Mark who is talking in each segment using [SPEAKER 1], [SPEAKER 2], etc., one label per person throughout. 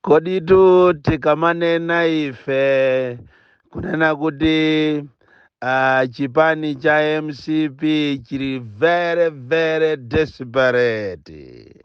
[SPEAKER 1] koditu tikamanena ife kunena kuti uh, chipani cha mcp chili very very desperate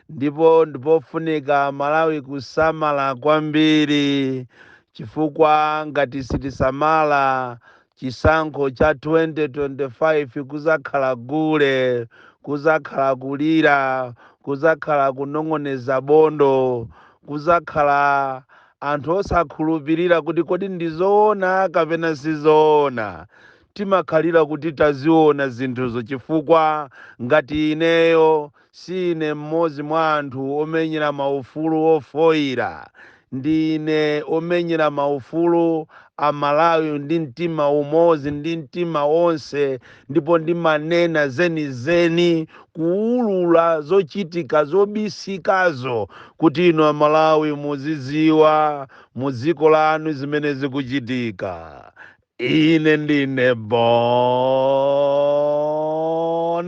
[SPEAKER 1] ndipo ndi pofunika amalawi kusamala kwambiri chifukwa ngati sitisamala Chisankho cha 2025 kuzakhala gule, kuzakhala kulira, kuzakhala kunong'oneza bondo, kuzakhala anthu osakhulupirira kuti kodi ndi zoona kapena si zoona. Timakhalira kuti taziona zinthuzo chifukwa ngati ineyo Siine mmodzi mwa anthu omenyera maufulu ofoira, ndine omenyera maufulu a Malawi ndi mtima umodzi ndi mtima onse ndipo ndimanena zenizeni, kuulula zochitika zobisikazo kuti inu a Malawi muziziwa mu dziko lanu zimene zikuchitika. Ine ndine Bon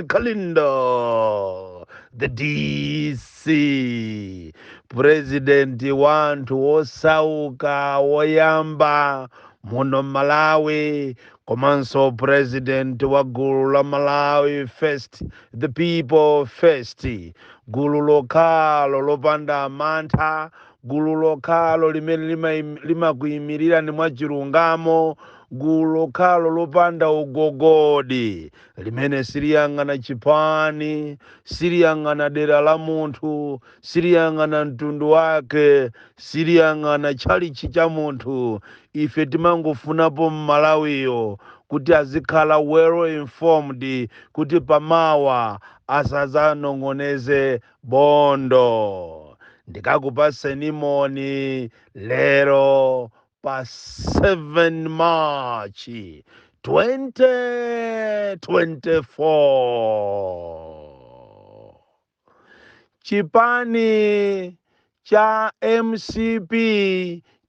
[SPEAKER 1] Kalindo, the DC, president wa anthu osauka woyamba muno Malawi, komanso president wa gulu la Malawi First, the people first, gulu lokhalo lopanda mantha gulu lokhalo limene limakuimirirani mwachilungamo gulu lokhalo lopanda ugogodi limene siliyang'ana chipani siliyang'ana dera la munthu siliyang'ana mtundu wake siliyang'ana tchalitchi cha munthu ife timangofunapo mmalawiyo kuti azikhala well informed kuti pamawa asazanong'oneze Bondo ndikakupatseni moni lero pa 7 March 2024. Chipani cha mcp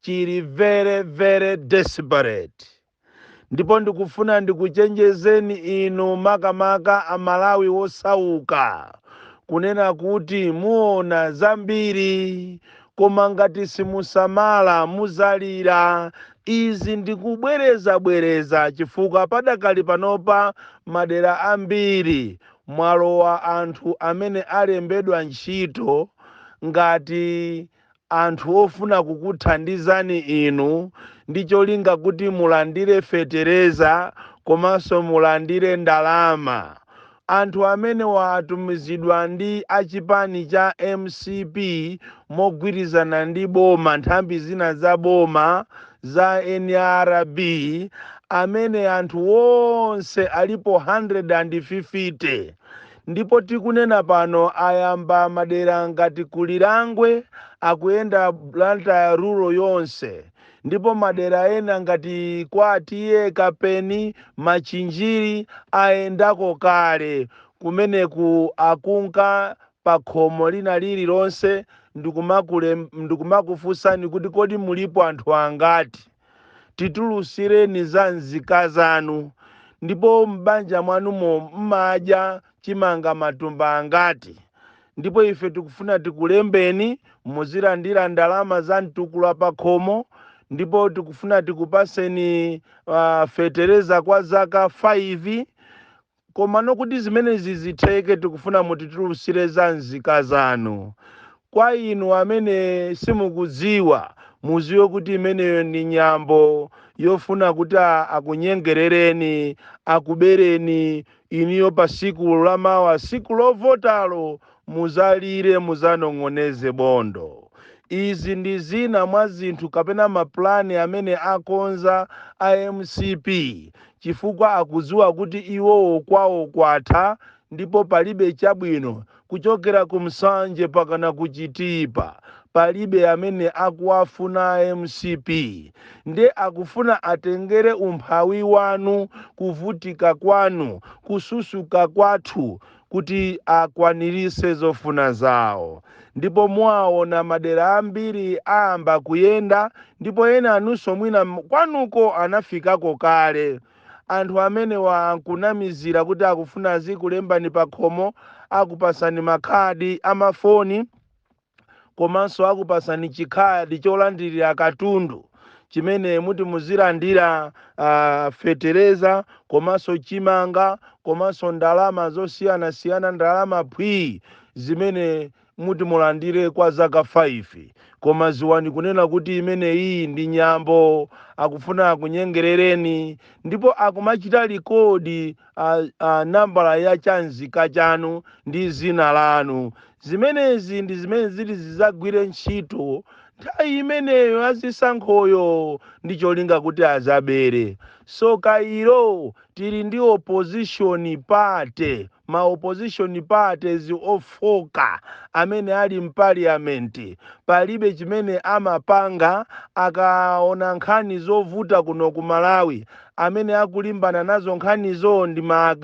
[SPEAKER 1] chili very very desperate. ndipo ndikufuna ndikuchenjezeni inu makamaka amalawi wosauka kunena kuti muona zambiri koma ngati simusamala muzalira izi ndikubwerezabwereza chifukwa padakali panopa madera ambiri mwalowa anthu amene alembedwa ntchito ngati anthu ofuna kukuthandizani inu ndi cholinga kuti mulandire fetereza komanso mulandire ndalama. Anthu amenewa atumizidwa ndi a chipani cha mcp mogwirizana ndi boma, nthambi zina za boma za nrb amene anthu onse alipo 150. Ndipo tikunena pano ayamba madera ngati ku Lirangwe akuyenda Blantyre rural yonse ndipo madera ena ngati kwa TA Kapeni, Machinjiri ayendako kale kumeneku akunka pakhomo lina lililonse ndikumakufunsani kuti kodi mulipo anthu angati? titulusireni za nzika zanu, ndipo m'banja mwanumo m'madya chimanga matumba angati? Ndipo ife tikufuna tikulembeni muzilandira ndalama za mtukula pa khomo, ndipo tikufuna tikupaseni uh, fetereza kwa zaka 5 Komano kuti zimenezi zitheke tikufuna mutitulusire za nzika zanu. Kwa inu amene simukudziwa, muziwe kuti imeneyo ndi nyambo yofuna kuti akunyengerereni, akubereni inuyo pa siku lamawa, siku lovotalo, Muzalire, muzanong'oneze bondo. Izi ndi zina mwa zinthu kapena ma plan amene akonza a mcp chifukwa akudziwa kuti iwowo kwawo kwatha ndipo palibe chabwino kuchokera ku Nsanje mpakana ku Chitipa palibe amene akuwafuna a mcp nde akufuna atengere umphawi wanu kuvutika kwanu kususuka kwathu kuti akwanirise zofuna zawo ndipo muwaona madera ambiri ayamba kuyenda ndipo ena anunso mwina m- kwanuko anafikako kale anthu amenewa akunamizira kuti akufuna azikulembani pakhomo akupasani makhadi amafoni komanso akupasani chikhadi cholandirira katundu chimene muti muzilandira uh, fetereza komanso chimanga komanso ndalama zosiyanasiyana ndalama phwii zimene muti mulandire kwa zaka 5 koma ziwani kunena kuti imeneyi ndi nyambo akufuna akunyengerereni ndipo akumachita rekodi nambala ya chanzika chanu ndi zina lanu zimenezi ndi zimene zili zizagwire ntchito nthawi imeneyo azisankhoyo ndi cholinga kuti azabere so kairo tili ndi opposition party ma opposition parties ofoka amene ali mpaliyamenti palibe chimene amapanga akaona nkhani zovuta kuno ku malawi amene akulimbana nazo nkhanizo ndi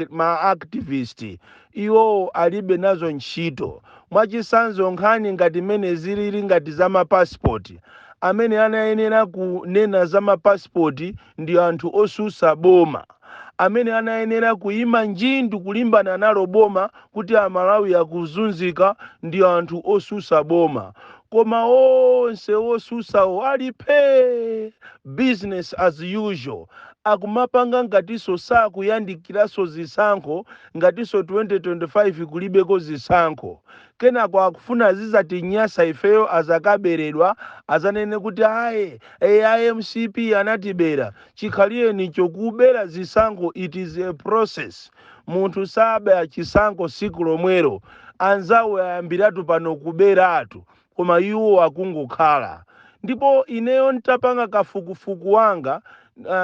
[SPEAKER 1] ma activist iwowo alibe nazo ntchito mwachisanzo nkhani ngati mmene zilili ngati za mapasipoti amene anayenera kunena za mapasipoti ndi anthu osusa boma amene anayenera kuyima njindu kulimbana nalo boma kuti amalawi akuzunzika ndi anthu osusa boma koma onse osusawo ali phee business as usual akumapanga ngatiso sakuyandikilaso zisankho ngatiso 2025 kulibeko zisankho kenako akufuna zizatinyasa ifeyo azakabeledwa azanene kuti aye a mcp anatibela chikhaliyeni cho kubela zisankho it is a process Munthu saba chisankho siku lomwero anzawo ayambiratu pano kuberatu koma iwo akungokhala ndipo ineyo ntapanga kafukufuku wanga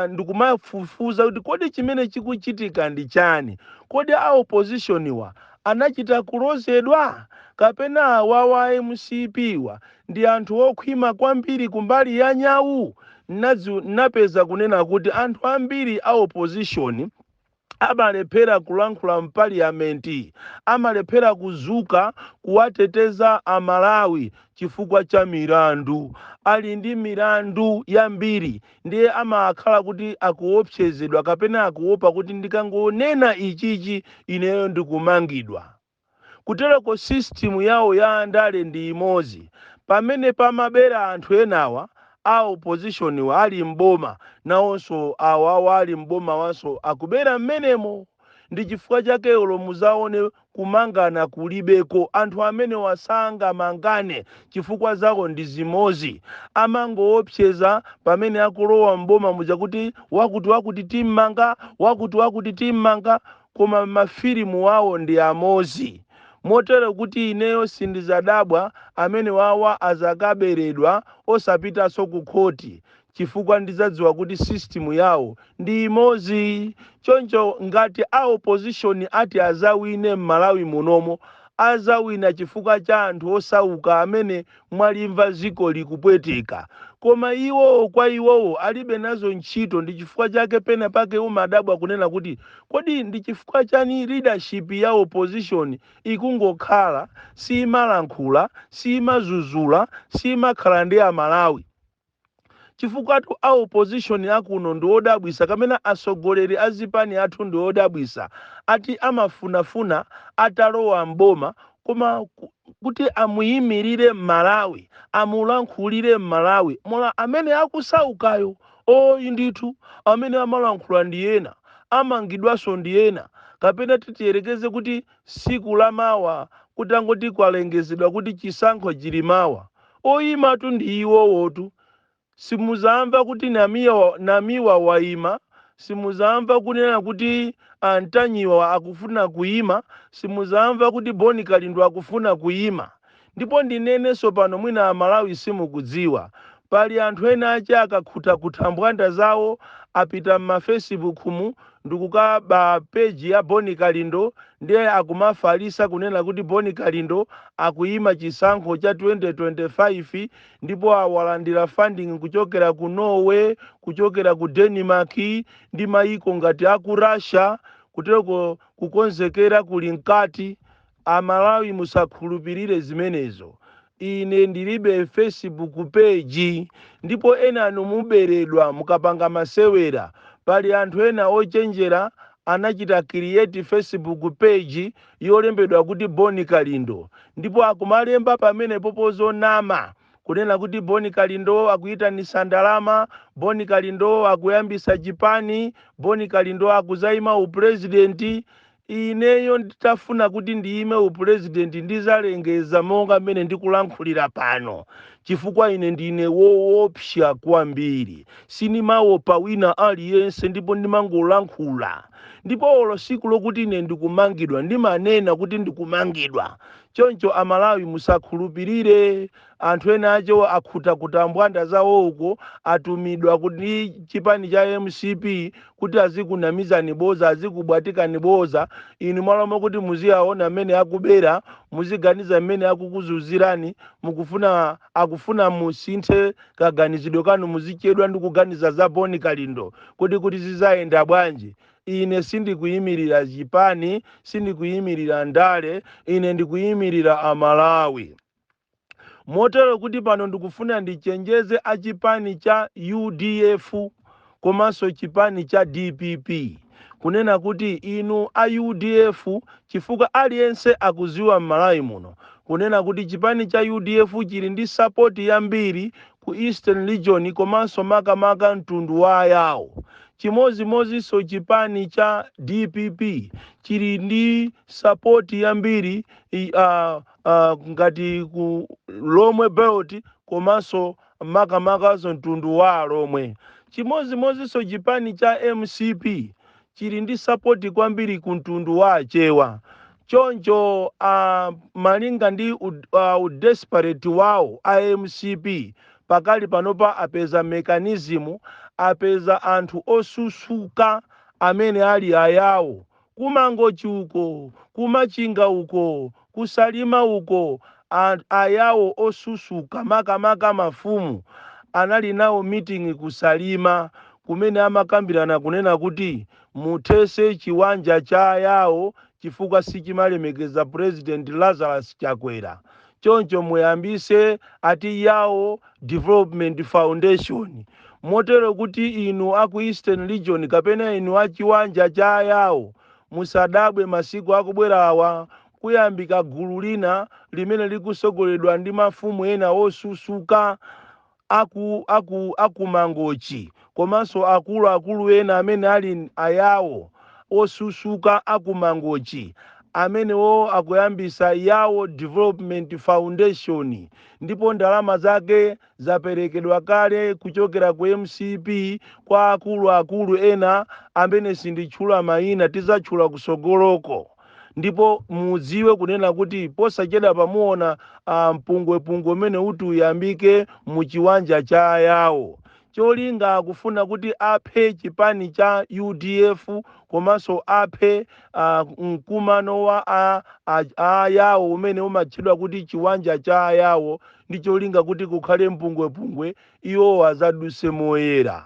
[SPEAKER 1] ndikumafufuza kuti kodi chimene chikuchitika ndi chani kodi a opposition wa anachita kulozedwa kapena awawa a mcp wa ndi anthu okhwima kwambiri kumbali ya nyau nnapeza kunena kuti anthu ambiri a opposition amalephera kulankhula mpaliyamenti, amalephera kuzuka kuwateteza a Malawi chifukwa cha milandu, ali ndi milandu yambiri ndiye amakhala kuti akuopsezedwa kapena akuopa kuti ndikangonena ichichi ineyo ndikumangidwa. kutereko system yawo ya andale ndi imozi pamene pamabera anthu enawa a opposition wa ali m'boma nawonso awawa ali m'bomawanso akubera m'menemo ndi chifukwa chake olo muzaone kumangana kulibeko anthu amenewa sangamangane chifukwa zawo ndi zimozi amangoopseza pamene akulowa m'boma muja kuti wakuti wakuti timmanga wakuti wakuti timmanga koma mafilimu awo ndi amozi motero kuti ineyo sindizadabwa amenewawa azakaberedwa osapitaso ku khoti chifukwa ndizadziwa kuti system yawo ndi imozi choncho ngati a opposition ati azawine mmalawi munomo azawina chifukwa cha anthu osauka amene mwalimva dziko likupweteka. Koma iwowo, kwa iwowo, alibe nazo ntchito ndi chifukwa chake pena pake umadabwa kunena kuti kodi ndi chifukwa chani leadership ya opposition ikungokhala simalankhula, simadzudzula, simakhala ndi a Malawi. chifukwatu a opposition akuno ndiwodabwisa kapena asogoleli azipani athu ndiwodabwisa ati amafunafuna atalowa m'boma koma kuti amuyimilile m'malawi amulankhulile m'malawi molo amene akusaukayo ayi ndithu amene amalankhula ndi ena amangidwanso ndi ena kapena titiyelekeze kuti siku lamawa kutangoti kwalengezedwa kuti chisankho chili mawa Oyimatu ndi iwowotu simuzamva kuti Namiwa wayima, simuzamva kunena kuti a Ntanyiwa akufuna kuyima, simuzamva kuti Bon Kalindo akufuna kuyima. Ndipo ndinenenso pano mwina a Malawi simukudziwa, pali anthu ena ake akakhuta khuta mbwanda zawo apita m'ma fesibuku mu ndikukaba page ya Boni Kalindo ndiye akumafalisa kunena kuti Boni Kalindo akuyima chisankho cha 2025 ndipo alandila funding kuchokera ku Norway, kuchokera ku Denmark ndi mayiko ngati aku Russia kuteloko kukonzekera kuli mkati. Amalawi musakhulupilire zimenezo ine ndilibe facebook page ndipo ena a inu muberedwa mukapanga masewera pali anthu ena ochenjera anachita create facebook page yolembedwa kuti Bon Kalindo ndipo akumalemba pamenepopo zonama kunena kuti Bon Kalindo akuitanisa ndalama Bon Kalindo akuyambisa chipani Bon Kalindo akuzaima u president Ineyo nditafuna kuti ndiyime u president ndizalengeza monga mmene ndikulankhulira pano chifukwa ine ndine woopsa kwambiri sinimaopa wina aliyense ndipo ndimangolankhula ndipo olo siku lokuti ine ndikumangidwa ndimanena kuti ndikumangidwa choncho amalawi musakhulupilire anthu ena ake akhuta khuta mbwanda zawo uko atumidwa ndi chipani cha mcp kuti azikunamizani boza azikubwatikani boza inu m'malo mokuti muziwaona mmene akubera muziganiza mmene akukuzuzirani akufuna musinthe kaganizidwe kanu muzichedwa ndi kuganiza za boni kalindo kodi kuti zizayenda bwanji ine sindikuyimirira chipani sindikuyimirira ndale ine ndikuyimirira amalawi Motero kuti pano ndikufuna ndichenjeze a chipani cha udf komanso chipani cha dpp kunena kuti inu a udf chifukwa aliyense akuziwa m'Malawi muno kunena kuti chipani cha udf chili ndi sapoti yambiri ku Eastern Region komanso makamaka mtundu wa Ayao. Chimodzimodzinso chipani cha dpp chili ndi sapoti yambiri uh, ah, ngati ku lomwe belt komanso makamakanso mtundu wa alomwe chimodzimodzinso chipani cha mcp chili ndi sapoti kwambiri ku mtundu wa achewa choncho ah, malinga ndi ud- ah, udesperate wawo a mcp pakali panopa apeza mekanizimu apeza anthu osusuka amene ali ayawo Ku Mangochi uko, ku Machinga uko, ku Salima uko, a, a Yao osusuka, makamaka mafumu, anali nawo meeting ku Salima kumene amakambirana kunena kuti muthese chiwanja cha a Yao chifukwa sichimalemekeza President Lazarus Chakwera. choncho muyambise ati Yawo Development Foundation motero kuti inu a ku Eastern Region kapena inu a chiwanja cha a Yawo musadabwe masiku akubwerawa kuyambika gulu lina limene likusogoleledwa ndi mafumu ena osusuka aku aku aku mangochi komanso akulu akulu ena amene ali a yawo osusuka aku mangochi amenewo akuyambisa yawo development foundation ndipo ndalama zake zaperekedwa kale kuchokera ku mcp kwa akulu akulu ena amene sinditchula maina tizatchula kusogoloko. ndipo mudziwe kunena kuti posachedwapa muona ah, mpungwepungwe umene uti uyambike mu chiwanja cha ayawo cholinga akufuna kuti aphe chipani cha udf komanso aphe ah, mkumano wa a- a- a ayawo umene umatchedwa kuti chiwanja cha ayawo ndi cholinga kuti kukhale mpungwepungwe Iwo adzadutse moyera.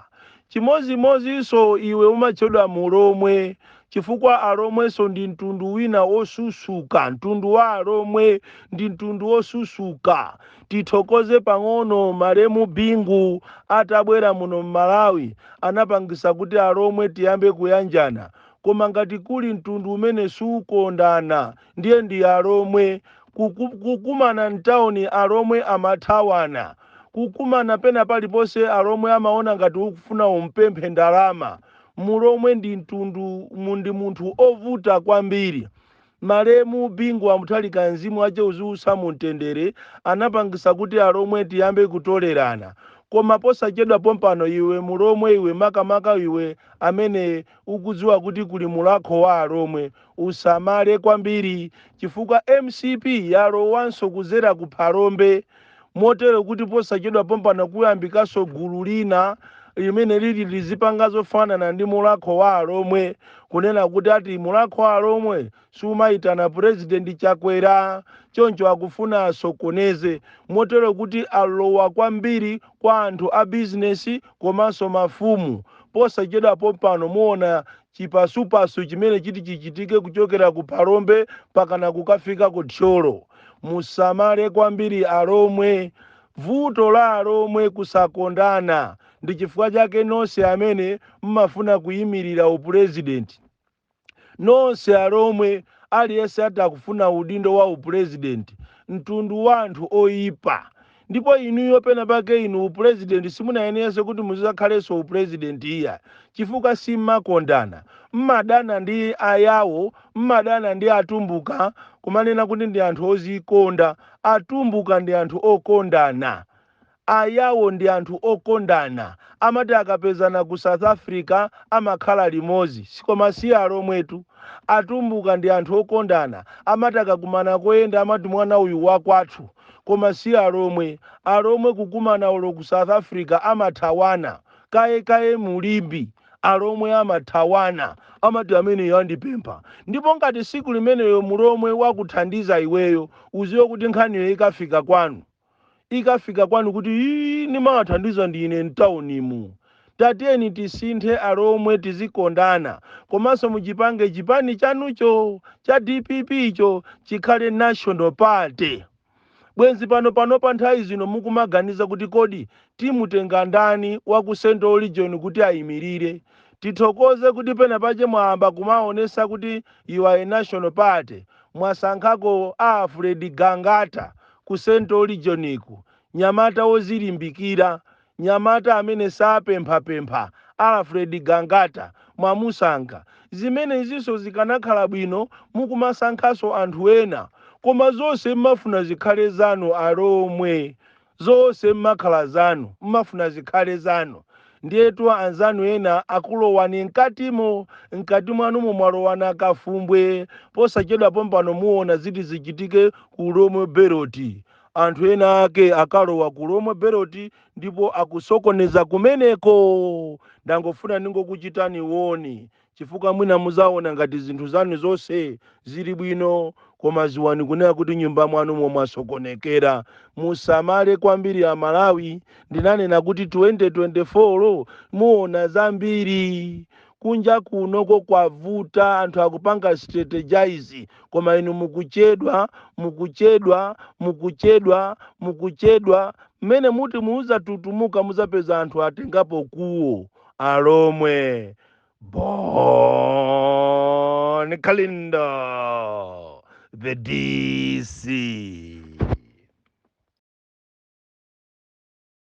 [SPEAKER 1] Chimodzimodzinso iwe umatchedwa Mulomwe, chifukwa alomwenso ndi mtundu wina wosusuka, mtundu wa alomwe ndi mtundu wosusuka. Tithokoze pang'ono malemu Bingu atabwera muno m'Malawi anapangitsa kuti alomwe tiyambe kuyanjana. Koma ngati kuli mtundu umene siukondana ndiye ndi alomwe kuku, kukumana mtauni alomwe amathawana kukumana pena paliponse alomwe amaona ngati ukufuna umpemphe ndalama mulomwe ndi mtundu mu- ndi munthu ovuta kwambiri malemu bingu wa mutharika mzimu wache uziusa mu mtendere anapangisa kuti alomwe tiyambe kutolerana koma posachedwa pompano iwe mulomwe iwe makamaka iwe amene ukudziwa kuti kuli mulakho wa alomwe usamale kwambiri chifukwa mcp yalowanso kudzera ku phalombe motero kuti posachedwa pompano kuyambikanso gulu lina limene lili lizipanga zofanana ndi mulakho wa alomwe kunena kuti ati mulakho wa alomwe sumayitana president chakwera choncho akufuna asokoneze motero kuti alowa kwambiri kwa anthu a business komanso mafumu posachedwa pompano muona chipasupasu chimene chiti chichitike kuchokera ku phalombe pakana kukafika ku thyolo musamale kwambiri alomwe vuto la alomwe kusakondana ndi chifukwa chake nonse amene mmafuna kuyimirira upulezidenti nonse alomwe aliyense ati akufuna udindo wa upulezidenti mtundu wa anthu oyipa ndipo inuyo pena pake inu upulezidenti simunayenerenso kuti muzizakhalenso upulezidenti iya chifukwa simmakondana mmadana ndi ayawo mmadana ndi atumbuka kumanena kuti ndi anthu ozikonda atumbuka ndi anthu okondana Ayawo ndi anthu okondana. Amati akapezana ku South Africa amakhala limodzi. Koma si alomwetu. Atumbuka ndi anthu okondana. Amati akakumana koyenda amati mwana uyu wakwathu. Koma si alomwe. Alomwe kukumana olo ku South Africa amathawana. Kaye kaye mu Limbe alomwe amathawana. Amati ameneyo andipempha. Ndipo ngati tsiku limenelo mulomwe wakuthandiza iweyo udziwe kuti nkhaniyo ikafika kwanu. ikafika kwanu kuti ii nimawathandiza ndine mtaunimu tatiyeni tisinthe alomwe tizikondana komanso muchipange chipani chanucho cha dpp cho chikhale national party bwenzi pano pano pa nthawi zino mukumaganiza kuti kodi timutenga ndani wa ku central region kuti ayimirire tithokoze kuti pena pache mwayamba kumaonesa kuti you are a national party mwasankhako a alfred gangata ku Central Regioniku, nyamata wozilimbikira, nyamata amene sapemphapempha, Alfred Gangata, mwamusankha. Zimenezinso zikanakhala bwino mukumasankhanso anthu ena. Koma zonse mmafuna zikhale zanu alomwe. Zonse mmakhala zanu, mmafuna zikhale zanu. Ndiyetu anzanu ena akulowani mkatimo, mkati mwanumo mwalowa nakafumbwe. Posachedwa pompano muona ziti zichitike ku Lhomwe Belt. Anthu ena ake akalowa ku Lhomwe Belt ndipo akusokoneza kumeneko. Ndangofuna ndingokuchitani warn chifukwa mwina muzaona ngati zinthu zanu zonse zili bwino koma ziwani kunena kuti nyumba mwanumo mwasokonekera musamale kwambiri amalawi ndinanena kuti 2024 muona zambiri kunja kunoko kwavuta anthu akupanga strategize koma inu mukuchedwa mukuchedwa mukuchedwa mukuchedwa mmene muti muzatutumuka muzapeza anthu atengapo kuwo alomwe Bon Kalindo, the DC.